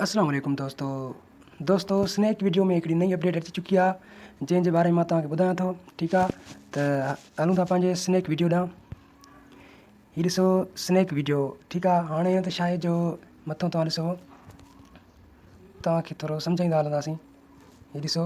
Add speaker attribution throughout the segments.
Speaker 1: اسلام عليڪم دوستو دوستو سنيڪ ويڊيو ۾ هڪڙي نئي اپڊيٽ اچي چڪي آهي جنهن جي باري ۾ مان توهان کي ٻڌايان ٿو ٺيڪ آهي ته هلون ٿا پنهنجي سنيڪ ويڊيو ڏانهن هي ڏسو سنيڪ ويڊيو ٺيڪ آهي هاڻي هي ته شاهي جو مٿو توهان ڏسو توهان کي ٿورو سمجهائيندا هلنداسين هي ڏسو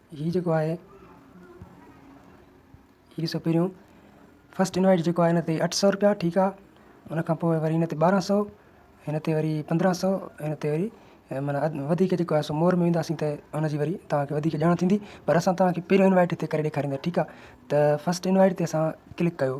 Speaker 1: ھي جيڪو آھي ھي ڏسو پھريون فسٽ انوائيٽ جيڪو آھي ھن تي اٺ سؤ رپيا ٺيڪ آ ان کان پوء وري ھن تي ٻارنھن سؤ ھن تي وري پندرنھن سؤ ھن تي وري معنی وڌيڪ جيڪو آھي سو مور ۾ وينداسين ته ان جي وري تاھکي وڌيڪ ڄاڻ ٿيندي پر اسان تاھکي پھريون انوائيٽ ھتي ڪري ڏيکاريندا ٺيڪ آ ته فسٽ انوائيٽ تي اسان ڪلڪ ڪيو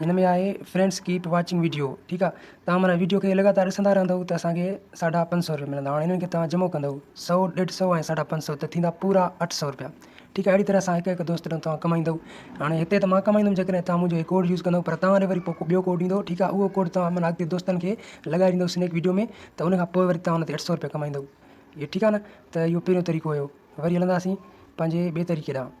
Speaker 1: هن ۾ آهي فرينڊس ڪيپ واچنگ ويڊيو ٺيڪ آهي تان معنيٰ ويڊيو کي لڳاتار ڏسندا رهندو ته اسانکي ساڍا پنج سو روپيا ملندا هاڻي هنن کي تان جمع ڪندو سو ڏيڍ سو ۽ ساڍا پنج سو ته ٿيندا پورا اٺ سو روپيا ٺيڪ آهي اهڙي طرح سان هڪ هڪ دوست ڏانهن تان ڪمائيندو هاڻي هتي ته مان ڪمائيندم جيڪڏهن تان منهنجو هي ڪوڊ يوز ڪندو پر تان وري پوء ٻيو ڪوڊ ڏيندو ٺيڪ آهي اهو ڪوڊ تان معنيٰ اڳتي دوستن کي لڳائي ڏيندو سنيڪ ويڊيو ۾ ته ان کان پوء وري تان ان تي اٺ سو روپيا ڪمائيندو اهو ٺيڪ آهي نه ته اهو پهريون طريقو هيو وري هلنداسين پنهنجي ٻئي طريقي ڏانهن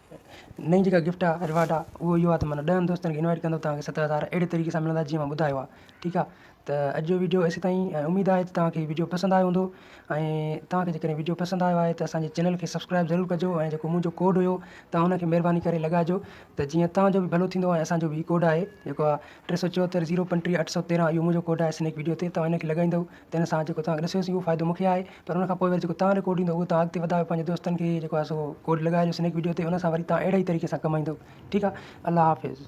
Speaker 1: نئين جيڪا گفٽ آ رواڊ آ اهو اهو آ ته معنيٰ ڏهن دوستن کي انوائٽ ڪندو توهان کي ست هزار اهڙي طريقي سان ملندا جيئن مون ٻڌايو آ ٺيڪ آ ته اڄ جو ويڊيو ايسي تائين ۽ اميد آهي ته توهان کي ويڊيو پسند آيو هوندو ۽ توهان کي جيڪڏهن ويڊيو پسند آيو آهي ته اسان جي چينل کي سبسڪرائب ضرور ڪجو ۽ جيڪو منهنجو ڪوڊ هيو توهان ان کي مهرباني ڪري لڳائجو ته جيئن توهان جو به ڀلو ٿيندو ۽ اسان جو به هي ڪوڊ آهي جيڪو آ ٽي سؤ چوهتر زيرو پنٽيهه اٺ سؤ تيرهن اهو منهنجو ڪوڊ آهي سنيڪ ويڊيو تي توهان ان کي لڳائيندو تنهن سان جيڪو توهان کي ڏسيو سي اهو فائدو مون کي آهي پر ان کان پوء وري جيڪو توهان رڪارڊ ايندو اهو توهان اڳتي وڌايو پنهنجي دوستن کي جيڪو آهي سو ڪوڊ لڳائي ڏيو سنيڪ وڊيو تي ان سان وري توهان اهڙي ئي طريقي سان ڪمائيندو ٺيڪ آهي الله حافظ.